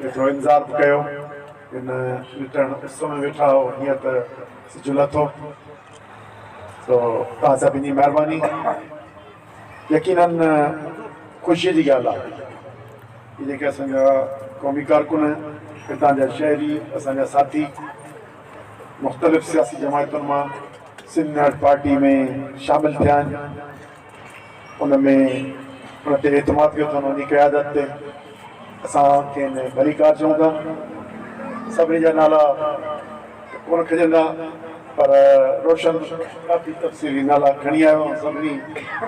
ويٺو انتظار به ڪيو ان لٽڻ اس ۾ ويٺا هو هينئر ته سج لٿو سو توهان سڀني جي مهرباني يقينن خوشي جي ڳالهه آهي هي جيڪي اسان جا قومي ڪارڪن هتان جا شهري اسان جا ساٿي مختلف سياسي جماعتن مان سنڌ نيشنل پارٽي ۾ شامل ٿيا آهن ان ۾ ان تي اعتماد ڪيو اٿن، ان جي قيادت تي اسان کين ڀليڪار چئون ٿا. سڀني جا نالا ته ڪونه کڄندا پر روشن ڪافي تفصيلي نالا کڻي آيو آهي، سڀني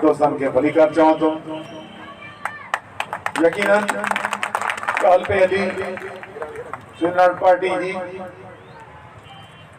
دوستن کي ڀليڪار چوان ٿو. يقينن ڳالهه پئي هلي سنڌ ناڻ پارٽي جي.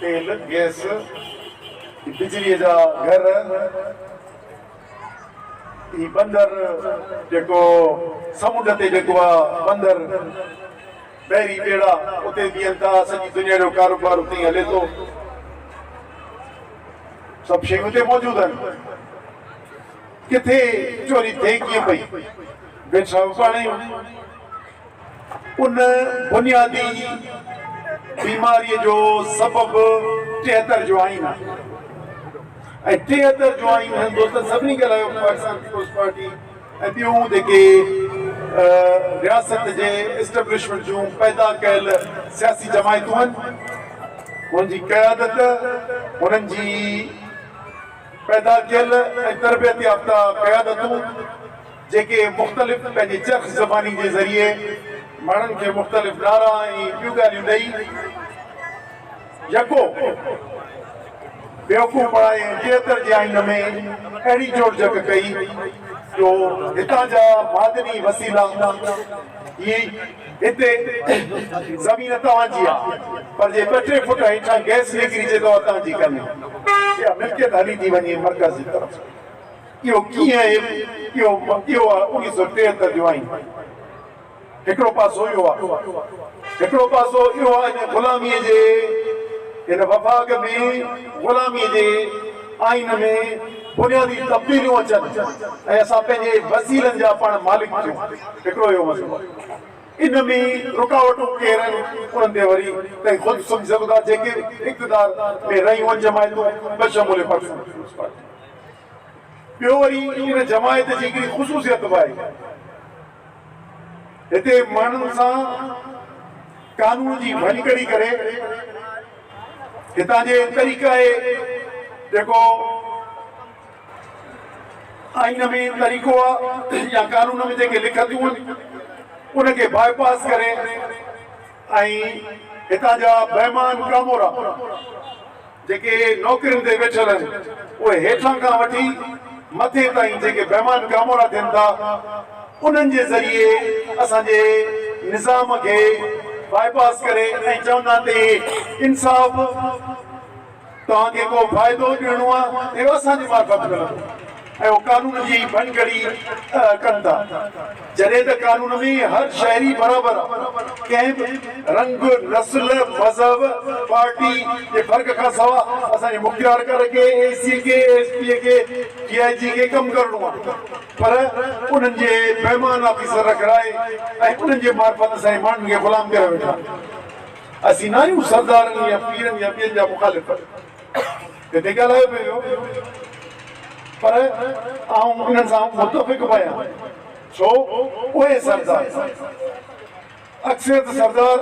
تيل، گئس، بجليء جا گهر، هي بندر جيڪو سمنڊ تي جيڪو آ بندر، بحري ٻيڙا اتي بيهن ٿا، سڄي دنيا جو ڪاروبار اتي ئي هلي ٿو، سڀ شيون اتي موجود آهن، ڪٿي چوري ٿئي ڪيئن پئي، بيٺا به پاڻ آهيون. ان بنيادي بيماريء جو سبب ٽيهتر جو آئين آهي ۽ ٽيهتر جو آئين هندوستان سڀني کي لايو پاڪستان پيپلز پارٽي ۽ ٻيون جيڪي رياست جي اسٽيبلشمينٽ جون پيدا ڪيل سياسي جماعتون آهن هن جي قيادت هنن جي پيدا ڪيل ۽ تربيت يافته قيادتون جيڪي مختلف پنهنجي چرخ زباني جي ذريعي ماڻهن کي مختلف نعرا ۽ ٻيون ڳالهيون ڏئي يڪو بيوقوف بڻائي ۽ ٽيهتر جي آئين ۾ اهڙي جوڙجڪ ڪئي جو هتان جا معدني وسيلا هي هتي زمين توهان جي آ پر جي ٻه ٽي فوٽ هيٺان گئس نڪري جي ته اتان جي ڪانهي اها ملڪيت هلي ٿي وڃي مرڪز جي طرف. اهو ڪيئن اهي اهو اهو آ انيس سو ٽيهتر جو آئين هڪڙو پاسو اهو آ هڪڙو پاسو اهو آ ان غلامي جي ان وفاق ۾ غلامي جي آئين ۾ بنيادي تبديليون اچن ۽ اسان پنهنجي وسيلن جا پاڻ مالڪ ٿيون هڪڙو اهو مسئلو آ ان ۾ رڪاوٽون ڪير آهن انهن تي وري تهين خود سمجهي سگهو ٿا جيڪي اقتدار ۾ رهيون آهن جماعتون بشمول پاڪستان پيپلز پارٽي. ٻيو وري ان جماعت جي هڪڙي خصوصيت به آهي. هتي ماڻهن سان قانون جي ڀڃڪڙي ڪري هتان جي طريقائي جيڪو آئين ۾ طريقو آ يا قانون ۾ جيڪي لکتون آهن ان کي باء پاس ڪري ۽ هتان جا بيمان ڪامورا جيڪي نوڪرين تي ويٺل آهن اهي هيٺان کان وٺي مٿي تائين جيڪي بيمان ڪامورا ٿين ٿا انهن جي ذريعي اسان جي نظام کي باء پاس ڪري ۽ چوندا آهن ته اهي انصاف توهان کي ڪو فائدو ڏيڻو آهي اهو اسان جي معرفت ملندو. اهو قانون جي ئي ڀڃڪڙي ڪن ٿا. جڏهن ته قانون ۾ هر شهري برابر آ. ڪنهن به رنگ، نسل، مذهب، پارٽي جي فرق کان سوا اسان جي مکيه ارڪان کي، اي سي کي، ايس پي کي، ڊي آء جي کي ڪم ڪرڻو آ. پر انهن جي بيمان آفيسر رکرائي ۽ انهن جي معرفت اسان جي ماڻهن کي غلام ڪريا ويٺا آهن. اسين ناهيون سردارن يا پيرن يا ٻين جا مخالف. هتي ڳالهايو پئي ويو پر آئون انهن سان متفق به آهيان ڇو اهي سردار اڪثريت سردار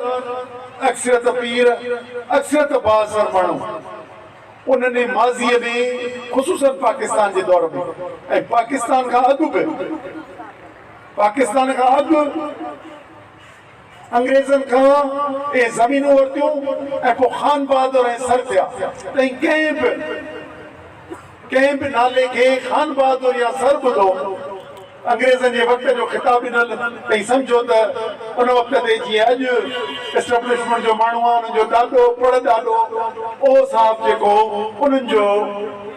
اڪثريت پير اڪثريت بااثر ماڻهو انهن ئي ماضي ۾ خصوصا پاڪستان جي دور ۾ ۽ پاڪستان کان اڳ به پاڪستان کان اڳ انگريزن کان اهي زمينون ورتيون ۽ پوء خان بهادر ۽ سر ٿيا. تائين ڪنهن به ڪنهن به نالي کي خان بهادر يا سر ٻڌو. انگريزن جي وقت جو خطاب ڏنل تائين سمجهو ته ان وقت تي جيئن اڄ اسٽبلشمنٽ جو ماڻهو آهي انهن جو ڏاڏو پڙ ڏاڏو اهو صاحب جيڪو انهن جو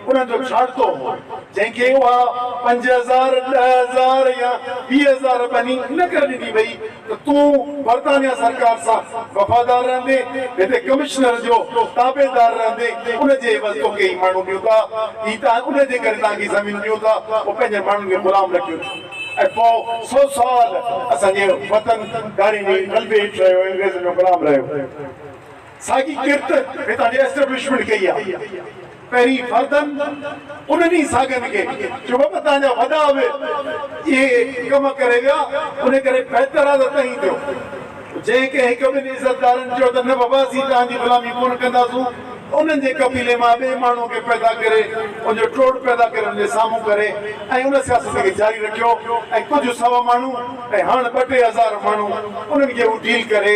انهن جو ڇاڙتو هو. جنهن کي اها پنج هزار، ڏهه هزار يا ويهه هزار ٻني ان ڪري ڏني وئي ته تون برطانيا سرڪار سان وفادار رهندين، هتي ڪمشنر جو تابعدار رهندين، ان جي عيوض توکي هي ماڻهو ڏيون ٿا، هي ته ان جي ڪري توهان کي زمينون ڏيون ٿا، پوء پنهنجن ماڻهن کي غلام نه ڪيو ڇو؟ ۽ پوء سؤ سال اسان جي وطن ڌاڙي جي غلبي هيٺ رهيو، انگريزن جو غلام رهيو. ساڳي ڪرت هتان جي اسٽيبلشمينٽ ڪئي آ. پهرين فردن انهن ئي ساڳن کي جو بابا توهان جا وڏا به اهي ڪم ڪري ويا ان ڪري بهتر آ ته توهين ٿيو. جنهن ڪنهن هڪ ٻن عزتدارن چيو ته نه بابا اسين توهان جي غلامي ڪونه ڪنداسون ته انهن جي قبيلي مان ٻئي ماڻهوء کي پيدا ڪري ان جو ٽوڙ پيدا ڪري ان جي سامهون ڪري ۽ ان سياست کي جاري رکيو ۽ ڪجهه سوا ماڻهو ۽ هاڻ ٻه ٽي هزار ماڻهو انهن کي هو ڊيل ڪري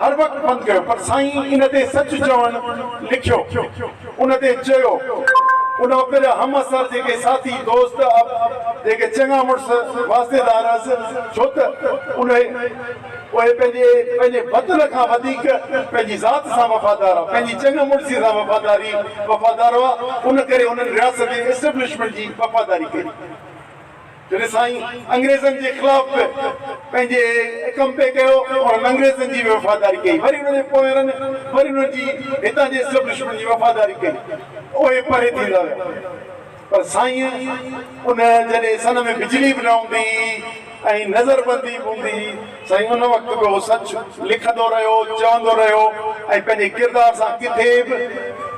هر وقت بند ڪيو پر سائين ان تي سچ چوڻ لکيو ان تي چيو ان وقت جا هم عصر جيڪي ساٿي دوست اب جيڪي چڱا مڙس واسطيدار هئس ڇو ته انهي اهي پنهنجي پنهنجي وطن کان وڌيڪ پنهنجي ذات سان وفادار هئا پنهنجي چڱ مڙسي سان وفاداري وفادار هئا ان ڪري انهن رياست جي اسٽبلشمينٽ جي وفاداري ڪئي. جڏهن سائين انگريزن جي خلاف به پنهنجي ڪمپي ڪيو انهن انگريزن جي به وفاداري ڪئي وري انهن جي پوئرن وري انهن جي هتان جي اسٽيبلشمينٽ جي وفاداري ڪئي اهي پري ٿيندا ويا پر سائين ان جڏهن سن ۾ بجلي به نه هوندي هئي ۽ نظر بندي به هوندي هئي سائين ان وقت به اهو سچ لکندو رهيو، چوندو رهيو ۽ پنهنجي ڪردار سان ڪٿي به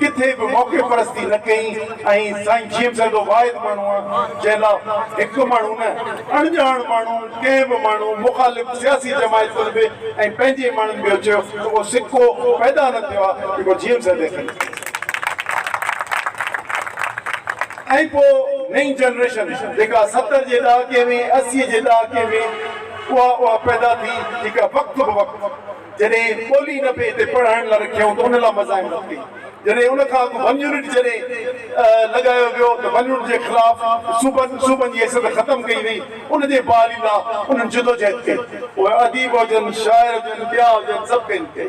ڪٿي به موقعي پرستي نه ڪئي ۽ سائين جيئن به سندو واحد ماڻهو آ جنهن لا هڪ ماڻهو نه اڻڄاڻ ماڻهو ڪنهن به ماڻهو مخالف سياسي جماعتن به ۽ پنهنجي ماڻهن به اهو چيو ته ڪو سڪو پيدا نه ٿيو آ جيڪو جيئن به سندي کي ۽ پوء نئين جنريشن جيڪا ستر جي ڏهاڪي ۾ اسي جي ڏهاڪي ۾. اها اها پيدا ٿي جيڪا وقت بوقت جڏهن ٻولي نه پئي تي پڙهائڻ لاء رکيائون ته ان لاء مزاحمت ڪئي. جڏهن ان کان اڳ ون يونٽ جڏهن لڳايو ويو ته ون يونٽ جي خلاف صوبن صوبن جي حيثيت ختم ڪئي وئي ان جي بحالي لاء انهن جدوجهد ڪئي. اهي اديب هجن، شاعر هجن، ٻيا هجن سڀ ڪئن ڪئي.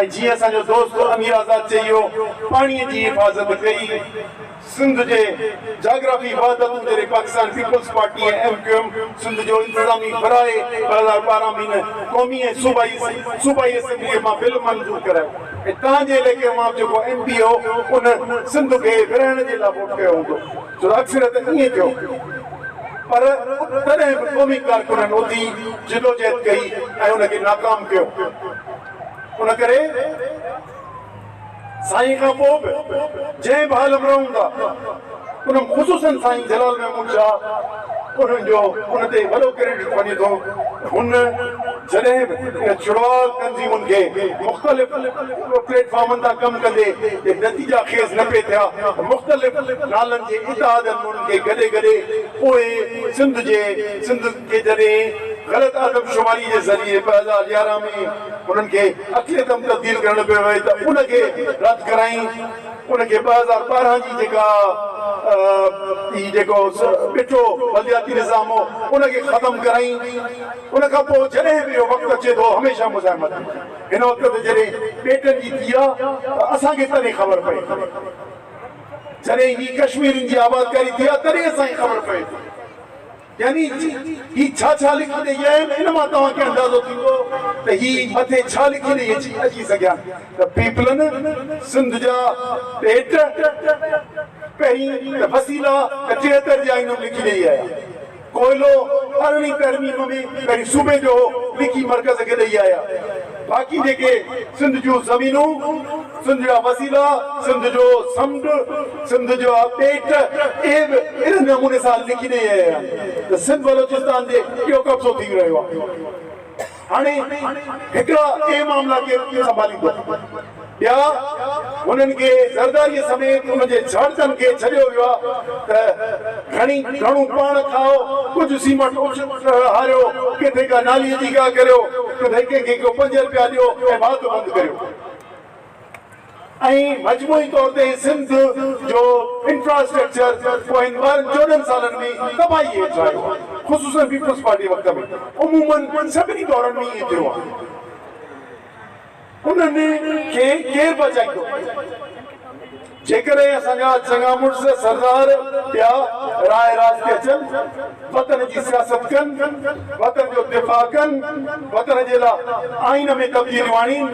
۽ جيئن اسان جو دوست امير آزاد چيو پاڻي جي حفاظت ڪئي سنڌ جي جاگرافي وحدتون جڏهن Pakistan people's party ۽ M Q M Sindh جو انتظامي براء ٻه هزار ٻارهن ۾ نه قومي ۽ صوبائي صوبائي اسيمبلي مان بل منظور ڪرايو ۽ تهان جي عليقي مان به جيڪو ايم پي هو ان سنڌ کي ورهائڻ جي لاء ووٽ ڪيو هوندو ڇو ته اڪثريت ائين ٿيو پر تڏهن به قومي ڪارڪنن اٿي جدوجهد ڪئي ۽ ان کي ناڪام ڪيو. ان ڪري سائين کان پوء به جنهن به عالم رهون ٿا ان خصوصن سائين جلال محمود شاهه انهن جو ان تي وڏو ڪريڊٽ وڃي ٿو ته هن جڏهن به ان چڙواء تنظيمن کي مختلف پليٽ فارمن تان ڪم ڪندي جي نتيجا خيز نه پئي ٿيا ته مختلف نالن جي اتحادن ۾ انهن کي گڏي گڏي پوء سنڌ جي سنڌ کي جڏهن غلط آدمشماري جي ذريعي ٻه هزار يارهن ۾ انهن کي اڪلي دم تبديل ڪرڻ پيو وئي ته ان کي رد ڪرائين ان کي ٻه هزار ٻارهن جي جيڪا هي جيڪو ٻٽو بلدياتي نظام هو ان کي ختم ڪرائين ان کان پوء جڏهن به اهو وقت اچي ٿو هميشه مزاحمت ٿي هن وقت ته جڏهن ٻيٽن جي ٿي آ ته اسان کي تڏهن خبر پئي ٿي جڏهن هي ڪشميرين جي آبادڪاري ٿي آ تڏهن اسان کي خبر پئي ٿي. يعني هي ڇا ڇا لکي ڏئي آيا آهن ان مان توهان کي اندازو ٿيندو ته هي مٿي ڇا لکي ڏئي اچي اچي سگهيا ته پيپلن سنڌ جا پيٽ پهرين ته وسيلا ته ٽيهتر جي آئين ۾ لکي ڏئي آيا ڪوئلو ارڙهين ترميم ۾ پهرين صوبي جو هو لکي مرڪز کي ڏئي آيا باقي جيڪي سنڌ جون زمينون سنڌ جا وسيلا، سنڌ جو سمنڊ، سنڌ جا ٻيٽ اهي به اهڙي نموني سان لکي ڏئي رهيا آهن ته سنڌ بلوچستان تي اهو قبضو ٿي رهيو آهي. هاڻي هڪڙا اهي معاملا ڪير سنڀاليندو؟ ٻيا هنن کي زرداريء سميت ان جي جهڙتن کي ڇڏيو ويو آهي ته گهڻي گهڻو پاڻ کائو، ڪجهه سيمٽ اچ هاريو، ڪٿي ڪا ناليء جي گاهه ڪريو، ڪٿي ڪنهن کي ڪو پنج رپيا ڏيو ۽ واڌ بند ڪريو. ۽ مجموعي طور تي سنڌ جو انفراسٽرڪچر پوين ٻارهن چوڏهن سالن ۾ تباهي هيٺ آيو آهي خصوصن پيپلز پارٽي وقت ۾ عمومن سڀني دورن ۾ ائين ٿيو آهي انهن کي ڪير بچائيندو. جيڪڏهن اسان جا چڱا مڙس سردار ٻيا راء راست تي اچن، وطن جي سياست ڪن، وطن جو دفاع ڪن، وطن جي لا آئين ۾ تبديليون آڻين،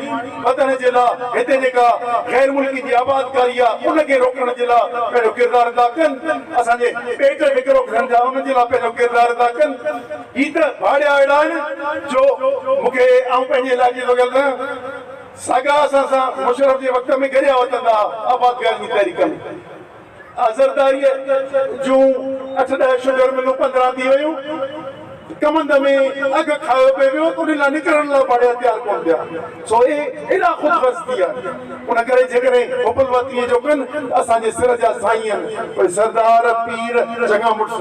وطن جي لا هتي جيڪا غير ملڪين جي آبادڪاري آ ان کي روڪڻ جي لا پنهنجو ڪردار ادا ڪن، اسان جي پيٽ کي ڪرو کڻن ٿيا ان جي لا پنهنجو ڪردار ادا ڪن. هي ته ڀاڙيا اهڙا آهن جو مون کي آئون پنهنجي علائقي جو ڳل نه. ساڳا اسان سان مشرف جي وقت ۾ گڏيا وتندا ها آبادگاري جي تحريڪ ۾ آء زرداريء جون اٺ ڏهه شگر ملون پندرهن ٿي ويون ڪمند ۾ اگهه کايو پئي ويو ته انهن لاء نڪرڻ لاء ڀاڙي هٿيار ڪونه ٿيا سو اهي ايڏا خود غرض ٿي ويا ان ڪري جيڪڏهن حبل وطنيء جو ڪن ته اسان جي سر جا سائين آهن اهي سردار پير چڱا مڙس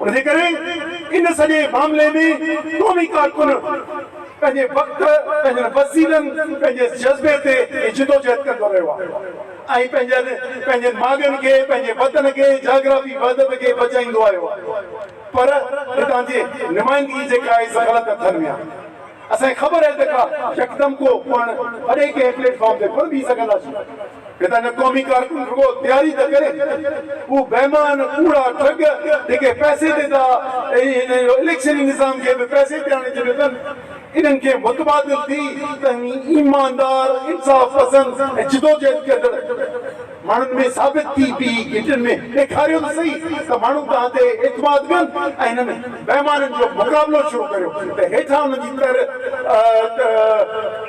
ان جي ڪري ان سڄي معاملي ۾ قومي ڪارڪن پنهنجي وقت، پنهنجن وسيلن، پنهنجي جذبي تي هي جدوجهد ڪندو رهيو آهي ۽ پنهنجن پنهنجن ماڳن کي، پنهنجي وطن کي، جاگرافي وحدت کي بچائيندو آيو آهي پر هتان جي نمائندگي جيڪا آهي سا غلط هٿن ۾ آهي. اسان کي خبر آهي ته ڪا يڪدم ڪو پاڻ پري ڪنهن پليٽ فارم تي ڪونه بيهي سگهنداسين. هتان جا قومي ڪارڪن رڳو تياري ٿا ڪرين. اهو بيمان، ڪوڙا، ٺڳ جيڪي پئسي تي ٿا ۽ هن اليڪشني نظام کي به پئسي تي آڻي ڇڏيو اٿن، انهن کي متبادل ٿي توهين ايماندار، انصاف پسند ۽ جدوجهد ڪندڙ، ماڻهن ۾ ثابت ٿي پي اي گهٽين ۾ ڏيکاريو ته سهي ته ماڻهو توهان تي اعتماد ڪن ۽ هنن بيمارين جو مقابلو شروع ڪريو ته هيٺان ان جي تر ته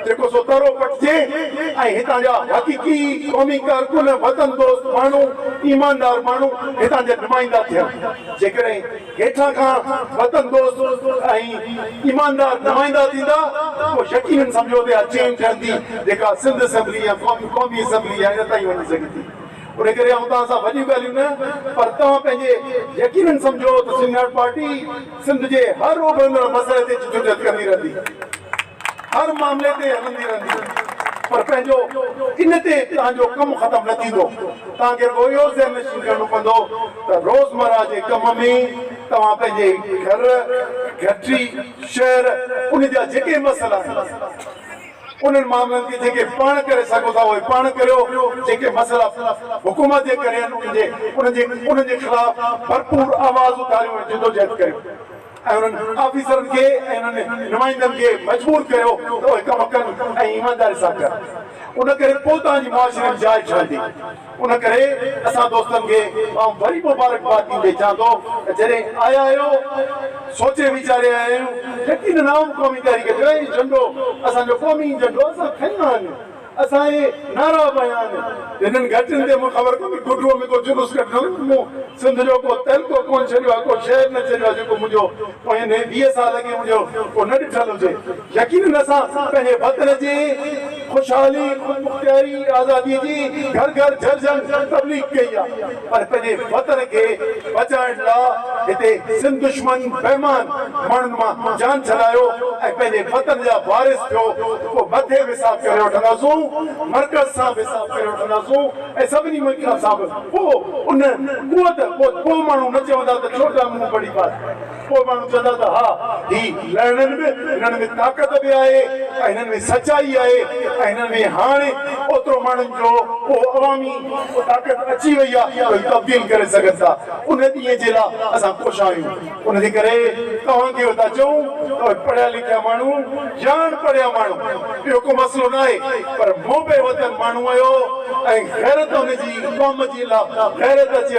جيڪو سو ترو پٽجي ۽ هتان جا حقيقي قومي ڪارڪن وطن دوست ماڻهو ايماندار ماڻهو هتان جا نمائندا ٿين جيڪڏهن هيٺان کان وطن دوست ۽ ايماندار نمائندا ٿيندا پوء يقينن سمجهو ته اها چين ٺهندي جيڪا سنڌ اسيمبلي يا قومي قومي اسيمبلي يا ان تائين وڃي سگهي ٿي ان ڪري آئون توهان سان وڏيون ڳالهيون نه پر توهان پنهنجي يقينن سمجهو ته سنڌ نيشنل پارٽي سنڌ جي هر اڀرندڙ مسئلي تي جدوجهد ڪندي رهندي. هر معاملي تي هلندي رهندي پر پنهنجو ان تي توهان جو ڪم ختم نه ٿيندو. توهان کي روئي اهو ذهن نشين ڪرڻو پوندو ته روزمره جي ڪم ۾ توهان پنهنجي گهر، گهٽي، شهر ان جا جيڪي مسئلا آهن انهن معاملن کي جيڪي پاڻ ڪري سگهو ٿا اهي پاڻ ڪريو، جيڪي مسئلا حڪومت جي ڪري آهن انهن جي انهن جي خلاف ڀرپور آواز اٿاريو ۽ جدوجهد ڪريو. ۽ انهن آفيسرن کي ۽ انهن نمائندن کي مجبور ڪريو ته اهي ڪم ڪن ۽ ايمانداري سان ڪن ان ڪري پوء توهان جي معاشري ۾ جاء ٺهندي ان ڪري اسان دوستن کي آئون وري مبارڪباد ڏيندي چوان ٿو ته جڏهن آيا آهيو سوچي ويچاري آيا آهيون يقينن عام قومي تحريڪ جو هي جهنڊو اسان جو قومي جهنڊو اسان کڻي آيا آهيون. اسان اهي نعرا بيان هنن گهٽين تي مون خبر ڪونهي گهٽوء ۾ ڪو جلوس ڪڍڻو هو مون سنڌ جو ڪو تعلقو ڪونه ڇڏيو آهي ڪو شهر نه ڇڏيو آهي جيڪو منهنجو پوين هي ويهه سال اڳي منهنجو ڪو نه ڏٺل هجي يقينن اسان پنهنجي وطن جي خوشحالي خودمختياري آزادي جي گهر گهر جهرجهن تبليغ ڪئي آهي. پر پنهنجي وطن کي بچائڻ لا هتي سنڌ دشمن بيمان ماڻهن مان جان ڇڏايو ۽ پنهنجي وطن جا وارث ٿيو ته پوء مٿي به حساب ڪري وٺنداسون مرڪز سان به حساب ڪري وٺنداسون ۽ سڀني ملڪن سان به پوء ان قوت پوء ماڻهو نه چوندا ته ڇو ته مون بڙي بات ڪو ماڻهو چوندا ته ها هي لهڻن به هنن ۾ طاقت به آهي ۽ هنن ۾ سچائي آهي ۽ هنن ۾ هاڻي اوترو ماڻهن جو اهو عوامي طاقت اچي وئي آهي جو هي تبديل ڪري سگهن ٿا ان ڏينهن جي لا اسان ڪوشان آهيون ان جي ڪري توهان کي ٿا چئون ته اهي پڙهيا لکيا ماڻهو يا اڻ پڙهيا ماڻهو اهو ڪو مسئلو ناهي پر محب وطن ماڻهو آهيو ۽ غيرت ان جي قوم جي لا غيرت اچي